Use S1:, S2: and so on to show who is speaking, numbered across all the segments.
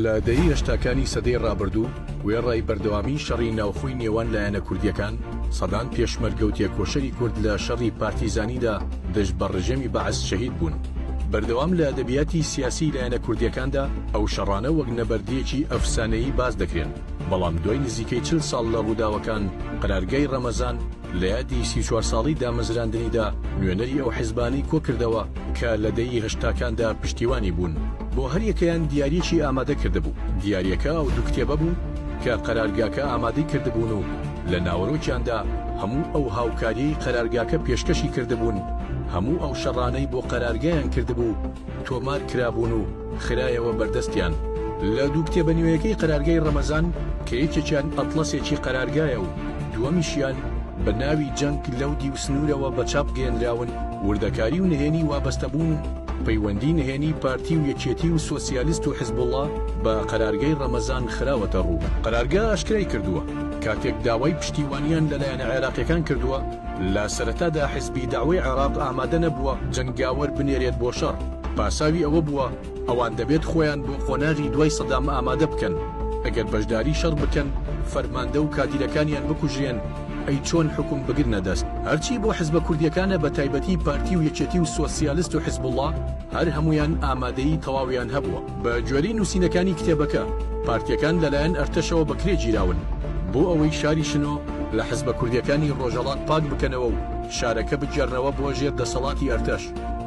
S1: لە دەیەی هەشتاکانی سەدەی ڕابردوو، وێڕای بەردەوامیی شەڕی ناوخۆی نێوان لایەنە کوردییەکان، سەدان پێشمەرگە و تێکۆشەری کورد لە شەڕی پارتیزانیدا دژ بە ڕژێمی بەعس شەهید بوون. بەردەوام لە ئەدەبیاتی سیاسیی لایەنە کوردییەکاندا، ئەو شەڕانە وەک نەبەردییەکی ئەفسانەیی باس دەکرێن، بەڵام دوای نزیکەی چل ساڵ لە ڕووداوەکان، قەرارگای ڕەمەزان، لە یادی سی و چوار ساڵەی دامەزراندنیدا نوێنەری ئەو حزبانەی کۆکردەوە کە لە دەیی هەشتاکاندا پشتیوانی بوون بۆ هەریەکەیان دیاریەکی ئامادە کردبوو دیاریەکە ئەو دوو کتێبە بوو کە قەرارگاکە ئامادەی کردبوون و لە ناوەرۆکیاندا هەموو ئەو هاوکاریەی قەرارگاکە پێشکەشی کردبوون هەموو ئەو شەڕانەی بۆ قەرارگایان کردبوو تۆمار کرابوون و خرایەوە بەردەستیان. لە دوو کتێبە نوێیەکەی قەرارگای ڕەمەزان کە یەکێکیان ئەتڵەسێکی قەرارگایە و دووەمیشیان بە ناوی جەنگ لەو دیو سنوورەوە بە چاپ گەیەندراون، وردەکاری و نهێنی وابەستەبوون و پەیوەندی نهێنی پارتی و یەکێتی و سۆسیالیست و حزبوڵا بە قەرارگای ڕەمەزان خراوەتە ڕوو. قەرارگا ئاشکرای کردووە، کاتێک داوای پشتیوانیان لەلایەنە عێراقییەکان کردووە، لە سەرەتادا حزبی دەعوەی عێراق ئامادە نەبووە جەنگاوەر بنێرێت بۆ شەڕ، پاساوی ئەوە بووە ئەوان دەبێت خۆیان بۆ قۆناغی دوای سەدام ئامادە بکەن، ئەگەر بەشداری شەڕ بکەن فەرماندە و کادیرەکانیان بکوژرێن ئەی چۆن حوکم بگرنە دەست؟ هەرچی بۆ حزبە کوردیەکانە بەتایبەتی پارتی و یەکێتی و سۆسیالست و حزبوڵا هەر هەموویان ئامادەیی تەواویان هەبووە. بە گوێرەی نووسینەکانی کتێبەکە، پارتییەکان لەلایەن ئەرتەشەوە بەکرێ گیراون بۆ ئەوەی شاری شنۆ لە حزبە کوردییەکانی ڕۆژهەڵات پاک بکەنەوە و شارەکە بگێڕنەوە بۆ ژێر دەسەڵاتی ئەرتەش،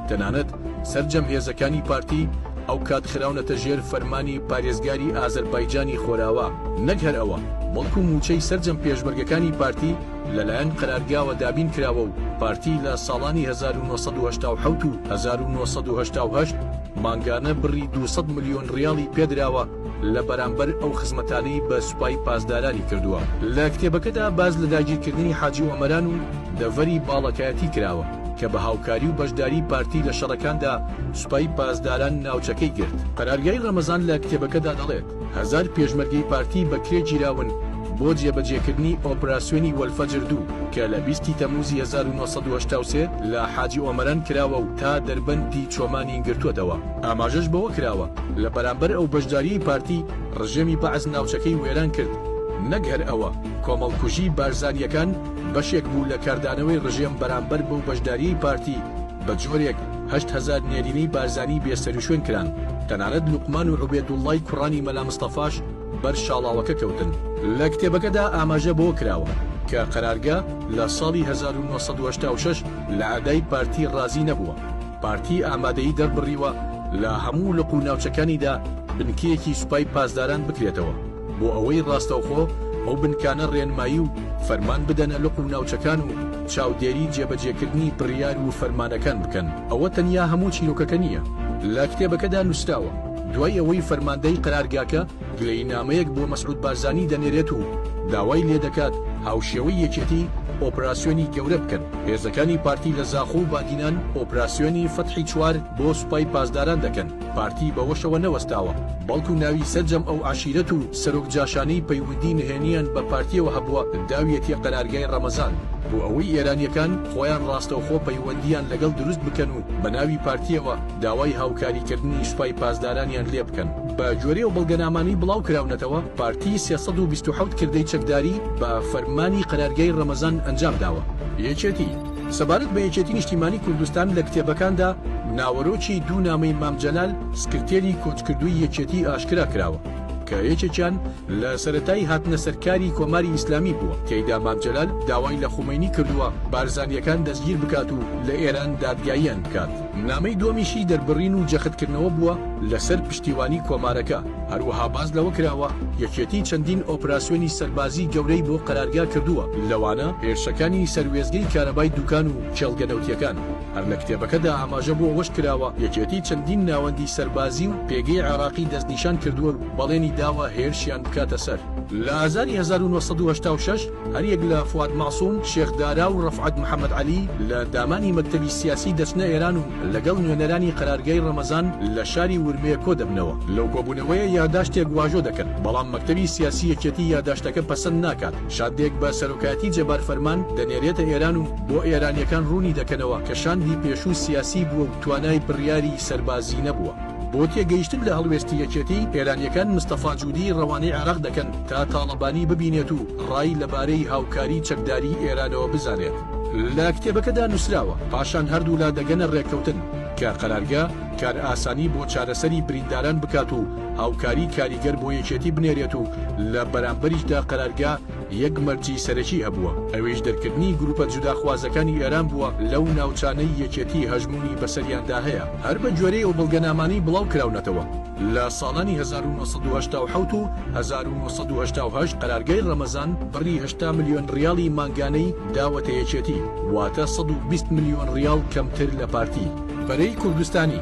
S1: تەنانەت سەرجەم هێزەکانی پارتی ئەوکات خراونەتە ژێر فەرمانی پارێزگاری ئازەربایجانی خۆراوا. نەک هەر ئەوە، بەڵکو مووچەی سەرجەم پێشمەرگەکانی پارتی لەلایەن قەرارگاوە دابین کراوە و پارتی لە ساڵانی هەزار و نۆ سەد و هەشتا و حەوت و هەزار و نۆ سەد و هەشتا و هەشت، مانگانە بڕی دوو سەد ملیۆن ڕیاڵی پێدراوە لە بەرامبەر ئەو خزمەتانەی بە سوپای پاسدارانی کردووە. لە کتێبەکەدا باس لە داگیرکردنی حاجی ئۆمەران و دەڤەری باڵەکایەتی کراوە، کە بە هاوکاری و بەشداری پارتی لە شەڕەکاندا سوپای پاسداران ناوچەکەی گرت. قەرارگای ڕەمەزان لە کتێبەکەدا دەڵێت، هەزار پێشمەرگەی پارتی بەکرێ گیراون بۆ جێبەجێکردنی ئۆپراسیۆنی وەلفەجر دوو کە لە بیست ی تەمووزی هەزار و نۆ سەد و هەشتا و سێ لە حاجی ئۆمەران کراوە و تا دەربەندی چۆمانی گرتووەتەوە. ئاماژەش بەوە کراوە، لە بەرامبەر ئەو بەشدارییەی پارتی، ڕژێمی بەعس ناوچەکەی وێران کرد. نەک هەر ئەوە، کۆمەڵکوژیی بارزانییەکان بەشێک بوو لە کاردانەوەی ڕژێم بەرامبەر بەو بەشدارییەی پارتی، بە جۆرێک هەشت هەزار نێرینەی بارزانی بێ سەروشوێن کران، تەنانەت لوقمان و عوبێدوڵڵای کوڕانی مەلا مستەفاش بەر شاڵاوەکە کەوتن. لە کتێبەکەدا ئاماژە بەوە کراوە کە قەرارگە لە ساڵی هەزار و نۆ سەد و هەشتا و شەش لە ئەدای پارتی ڕازی نەبووە، پارتی ئامادەیی دەربڕیوە لە هەموو لق و ناوچەکانیدا بنکەیەکی سوپای پاسداران بکرێتەوە. بۆ ئەوەی ڕاستەوخۆ ئەو بنکانە ڕێنمایی و فەرمان بدەنە لق و ناوچەکان و چاودێری جێبەجێکردنی بڕیار و فەرمانەکان بکەن، ئەوە تەنیا هەموو چیرۆکەکە نییە لە کتێبەکەدا نووسراوە، دوای ئەوەی فەرماندەی قەرارگاکە گلەیینامەیەک بۆ مەسعود بارزانی دەنێرێت و داوای لێدەکات هاوشێوەی یەکێتی ئۆپراسیۆنی گەورە بکەن، هێزەکانی پارتی لە زاخۆ و بادینان ئۆپراسیۆنی فەتحی چوار بۆ سوپای پاسداران دەکەن. پارتی بەوەشەوە نەوەستاوە، بەڵکو ناوی سەرجەم ئەو عەشیرەت و سەرۆک جاشانەی پەیوەندی نهێنییان بە پارتییەوە هەبووە داویەتیە قەرارگای ڕەمەزان، بۆ ئەوەی ئێرانییەکان خۆیان ڕاستەوخۆ پەیوەندییان لەگەڵ دروست بکەن و بەناوی پارتییەوە داوای هاوکاریکردنی سوپای پاسدارانیان لێ بکەن. بە گوێرەی ئەو بەڵگەنامانەی بڵاوکراونەتەوە، پارتی سێ سەد و بیست و حەوت کردەی چەکداری بە فەرمانی قەرارگای ڕەمەزان ئەنجامداوە. یەکێتی. سەبارەت بە یەکێتی نیشتیمانی کوردستان لە کتێبەکاندا ناوەرۆکی دوو نامەی مام جەلال سکرتێری کۆچکردووی یەکێتی ئاشکرا کراوە کە یەکێکیان لە سەرەتای هاتنە سەر کاری کۆماری ئیسلامی بووە تێیدا مام جەلال داوای لە خومەینی کردووە بارزانییەکان دەستگیر بکات و لە ئێران دادگاییان بکات. نامەی دووەمیشی دەربڕین و جەختکردنەوە بووە لەسەر پشتیوانی کۆمارەکە، هەروەها باس لەوە کراوە، یەکێتی چەندین ئۆپراسیۆنی سەربازی گەورەی بۆ قەرارگا کردووە، لەوانە هێرشەکانی سەر وێستگەی کارەبای دوکان و کێڵگە نەوتییەکان. هەر لە کتێبەکەدا ئاماژە بۆ ئەوەش کراوە، یەکێتی چەندین ناوەندی سەربازی و پێگەی عێراقی دەستنیشان کردووە و بەڵێنی داوە هێرشیان بکاتە سەر. لە ئازاری هەزار و نۆ سەد و هەشتا و شەش هەریەک لە فواد مەعسوم، شێخ دارا و ڕەفعەت محەمەد عەلی لە دامانی مەکتەبی سیاسی دەچنە ئێران و لەگەڵ نوێنەرانی قەرارگای ڕەمەزان لە شاری ورمێ کۆدەبنەوە. لەو کۆبوونەوەیە یاداشتێک واژۆ دەکەن، بەڵام مەکتەبی سیاسی یەکێتی یاداشتەکە پەسەند ناکات. شاندێک بە سەرۆکایەتی جەبار فەرمان دەنێرێتە ئێران و بۆ ئێرانییەکان ڕوونی دەکەنەوە کە شاندی پێشوو سیاسی بووە و توانای بڕیاری سەربازی نەبووە. بۆ تێگەیشتن لە هەڵوێستی یەکێتی، ئێرانییەکان مستەفا جودی رەوانەی عێراق دەکەن تا تاڵەبانی ببینێت و رای لەبارەی هاوکاری چەکداریی ئێرانەوە بزانێت. لە کتێبەکەدا نووسراوە، پاشان هەردوولا دەگەنە رێککەوتن کە قەرارگە کارئاسانی بۆ چارەسەری برینداران بکات و هاوکاری کاریگەر بۆ یەکێتی بنێرێت و لە بەرامبەریشدا قەرارگە یەک مەرجی سەرەکی هەبووە، ئەویش دەرکردنی گروپە جوداخوازەکانی ئێران بووە لەو ناوچانەی یەکێتی هەژموونی بەسەریاندا هەیە، هەر بە گوێرەی ئەو بەڵگەنامانەی بڵاو کراونەتەوە لە ساڵانی هەزار و نۆ سەد و هەشتا و حەوت و هەزار و نۆ سەد و هەشتا و هەشت قەرارگای ڕەمەزان بڕی هەشتا ملیۆن ڕیاڵی مانگانەی داوەتە یەکێتی، واتە سەد و بیست ملیۆن ڕیاڵ کەمتر لە پارتی. بەرەی کوردستانی.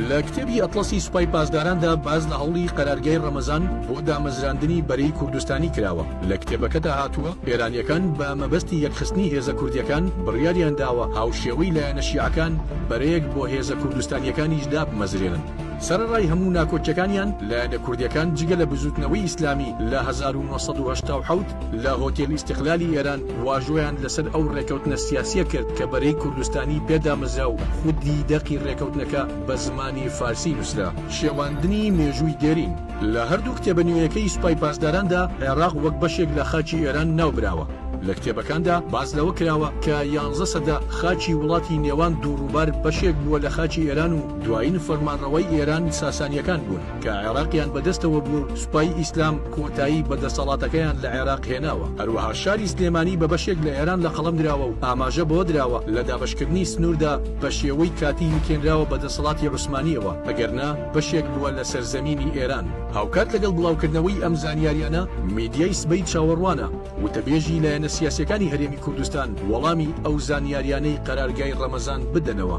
S1: لە کتێبی ئەتڵەسی سوپای پاسداراندا باس لە هەوڵی قەرارگای ڕەمەزان بۆ دامەزراندنی بەرەی کوردستانی کراوە، لە کتێبەکەدا هاتووە، ئێرانییەکان بە مەبەستی یەکخستنی هێزە کوردییەکان بڕیاریان داوە هاوشێوەی لایەنە شیعەکان بەرەیەک بۆ هێزە کوردستانییەکانیش دابمەزرێنن. سەرەڕای هەموو ناکۆکییەکانیان، لایەنە کوردییەکان جگە لە بزووتنەوەی ئیسلامی لە هەزار و نۆ سەد و هەشتا و حەوت، لە هۆتێلی ئیستیقلالی ئێران واژۆیان لەسەر ئەو ڕێکەوتنە سیاسییە کرد کە بەرەی کوردستانی پێ دامەزرا و خودی دەقی ڕێکەوتنەکە بە زمانی فارسی نووسرا. شێواندنی مێژووی دێرین لە هەردوو کتێبە نوێیەکەی سوپای پاسداراندا، عێراق وەک بەشێک لە خاکی ئێران ناو براوە. لە کتێبەکاندا باس لەوە کراوە کە یانزە سەدە خاکی وڵاتی نێوان دوو ڕووبار بەشێک بووە لە خاکی ئێران و دوایین فەرمانڕەوای ئێران ساسانییەکان بوون. کە عێراقیان بەدەستەوە بووە و سوپای ئیسلام کۆتایی بە دەسەڵاتەکەیان لە عێراق هێناوە، هەروەها شاری سلێمانی بە بەشێک لە ئێران لە قەڵەم دراوە و ئاماژە بەوە دراوە لە دابەشکردنی سنووردا بە شێوەی کاتی یەکێنراوە بە دەسەڵاتی عوسمانییەوە، ئەگەرنا بەشێک بووە لە سەرزەمینی ئێران. هاوکات لەگەڵ بڵاوکردنەوەی ئەم زانیارییانە، میدیای سبەی چاوەڕوانە وتەبێژی لایەنە سیاسییەکانی هەرێمی کوردستان وەڵامی ئەو زانیارییانەی قەرارگای ڕەمەزان بدەنەوە.